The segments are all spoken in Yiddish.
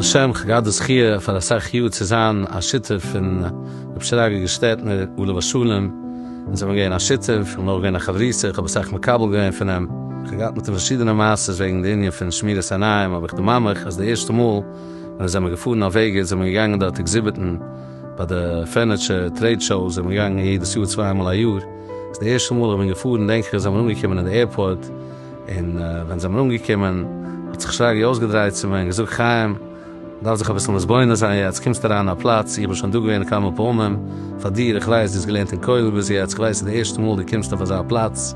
השם, איך געהאט די זכיה פאר אסאך יאר צו זיין א שותף פון רבי שרגא געשטעטנער עליו השלום, אונז זעמיר געווען א שותף, איך בין אויך געווען א חברותא, איך האב אסאך מקבל געווען פון אים, איך האב געהאט מיט אים פארשידענע מעשה'ס וועגן די ענין פון שמירת עיניים, אבער איך דערמאן מיך אז די ערשטע מאל ווען אונז זעמיר געפארן אויף וועגער זעמיר געגאנגען דארט עקזיביטן, ביי די פערניטשער טרעיד שאו איז ער בין געגאנגען יעדעס יאר צוויי מאל א יאר, איז די ערשטע מאל איך בין געפארן דענק איך אז זיי זענען אנגעקומען אין די עירפארט, און ווען זיי זענען אנגעקומען האט זיך שרגי אויסגעדרייט צו מיר און געזאגט חיים דארפסט זיך אביסל מתבונן זיין יעצט קומסטו אריין אין א פלאץ איך בין שוין דא געווען כמה פעמים פאר דיר איך ווייס דו האסט געלערנט אין כולל ביז יעצט איך ווייס ס'איז די ערשטע מאל דו קומסט אויף אזא פלאץ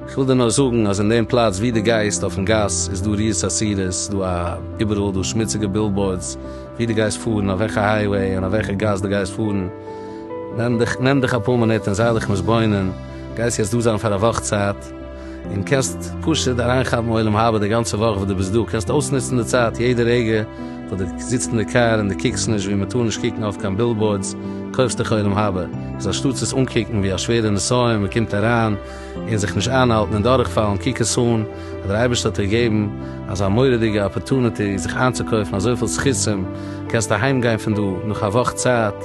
איך וויל דיר נאר זאגן אז אין דעם פלאץ ווי דו גייסט אויפן גאס איז דא ריעות אסירות ס'איז דא א איבעראל דא שמוציגע בילבאורדס ווי דו גייסט פארן, אויף וועלכע הייוועי און אויף וועלכע גאס דו גייסט פארן, נעם דיך נעם דיך אפאר מינוט און זיי דיך מתבונן, גייסט יעצט דא זיין פאר א וואך צייט, און קענסט פשוט אריינכאפן עולם הבא די גאנצע וואך וואס דו ביסט דא, קענסט אויסנוצן די צייט יעדע רגע וואס דו זיצט אין די קאר און דו קוקסט נישט ווי מען טאר נישט קוקן אויף קיין בילבאורדס, קויפסט דיך עולם הבא, איז אנשטאטס עס אנקוקן ווי א שווערע נסיון, מען קומט אריין. און זיך נישט איינהאלטן און דורכפאלן, קוק עס אן אז דער אייבערשטער האט דיר געגעבן אזא מורא'דיגע אפערטוניטי זיך איינצוקויפן אזויפיל זכותים, קענסט אהיים גיין פון דא נאך א וואך צייט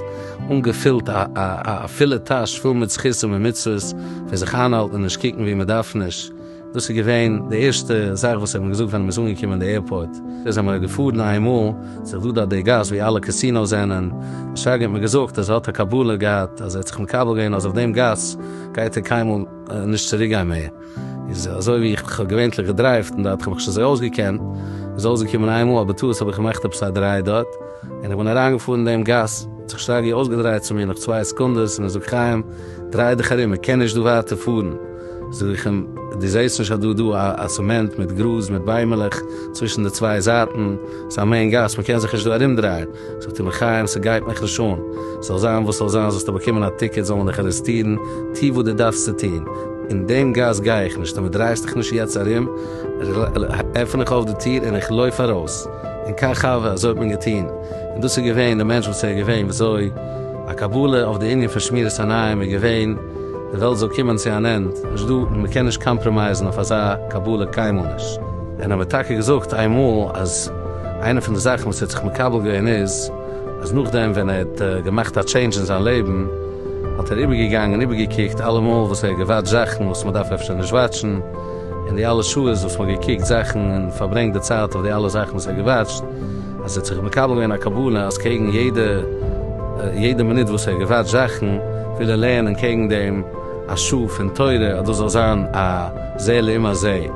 אנגעפילט א פולע טאש פול מיט זכותים און מצוות פון זיך איינהאלטן און נישט קוקן ווי מען דארף נישט, דאס איז געווען די ערשטע זאך וואס ער האט מיר געזאגט ווען מען איז אנגעקומען אין די עירפארט. זענען מיר געפארן איינמאל, זיך דא דארט די גאס ווי אלע קעסינאוס זענען, דער שרגא האט מיר געזאגט אז ער האט א קבלה געהאט אז ער האט זיך מקבל געווען אז אויף דעם גאס, גייט ער קיינמאל נישט צוריק גיין מער, איז אזוי ווי איך האב געווענטליך געדרייווט און דארט האב איך שוין זיי אויסגעקענט, איז אויסגעקומען איינמאל אז בטעות האב איך געמאכט עפעס א דריי דארט, און איך בין אריינגעפארן דעם גאס, האט זיך שרגי אויסגעדרייט צו מיר נאך צוויי סעקונדעס און ער זאגט חיים דריי דיך ארום איך קען נישט דא ווייטער פארן, זאג איך אים דו זעסט נישט אז דא דא א סעמענט מיט גראז מיט ביימעלעך צווישן די צוויי זייטן, ס'איז א מעין גאס מ'קען זיך נישט דא ארומדרייען. זאגט אים חיים, ס'גייט מיך נישט אן, זאל זיין וואס זאל זיין, זאלסטו באקומען א טיקעט, זאל מען דיך ארעסטירן, טו וואס דו דארפסט צו טון, אין דעם גאס גיי איך נישט, אויב דו דרייסט דיך נישט יעצט ארום, עפן איך אויף די טיר און איך לויף ארויס, און קיין ח ו, אזוי האט מען געטון, און דאס איז געווען די מענטש וואס ער איז געווען, וויאזוי א קבלה אויף די ענין פון שמירת עיניים איז געווען, די וועלט זאל קומען צו אן ענד, נישט דא, מ'קען נישט קאמפראמייזן אויף אזא קבלה קיינמאל נישט. און ער האט מיר טאקע געזאגט איינמאל אז. איינע פון די זאכן וואס ער האט זיך מקבל געווען איז אז נאכדעם ווען ער האט געמאכט א טשעינדזש אין זיין לעבן האט ער איבערגעגאנגען און איבערגעקוקט אלע מאל וואס ער האט געוואטשט זאכן וואס מען דארף אפשר נישט וואטשן און די אלע שעות וואס מען האט געקוקט זאכן און פארברענגט די צייט אויף די אלע זאכן וואס ער האט געוואטשט אז ער האט זיך מקבל געווען א קבלה אז קעגן יעדע יעדע מינוט וואס ער האט געוואטשט זאכן וויל ער לערנען קעגן דעם א שעה פון תורה אז דאס זאל זיין א זה לעומת זה.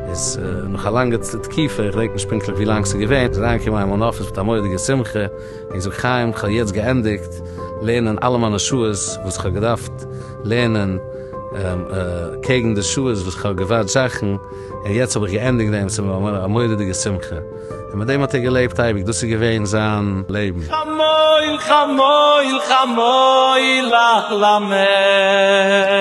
איז נאך א לאנגע תקיפה, איך געדענק נישט פונקטליך ווי לאנג ס'איז געווען, איז אריינגעקומען אין מיין אפיס מיט א מורא'דיגע שמחה, און געזאגט, חיים, כ'האב יעצט געענדיגט לערנען אלע מיינע שעות וואס כ'האב געדארפט לערנען קעגן די שעות וואס כ'האב געווארט זאכן, און יעצט האב איך געענדיגט דעם, ס'איז מיר געווארן א מורא'דיגע שמחה. און מיט דעם האט ער געלעבט אייביג, דאס איז געווען זיין לעבן. כ'מויל, כ'מויל, כ'מויל לך למעך.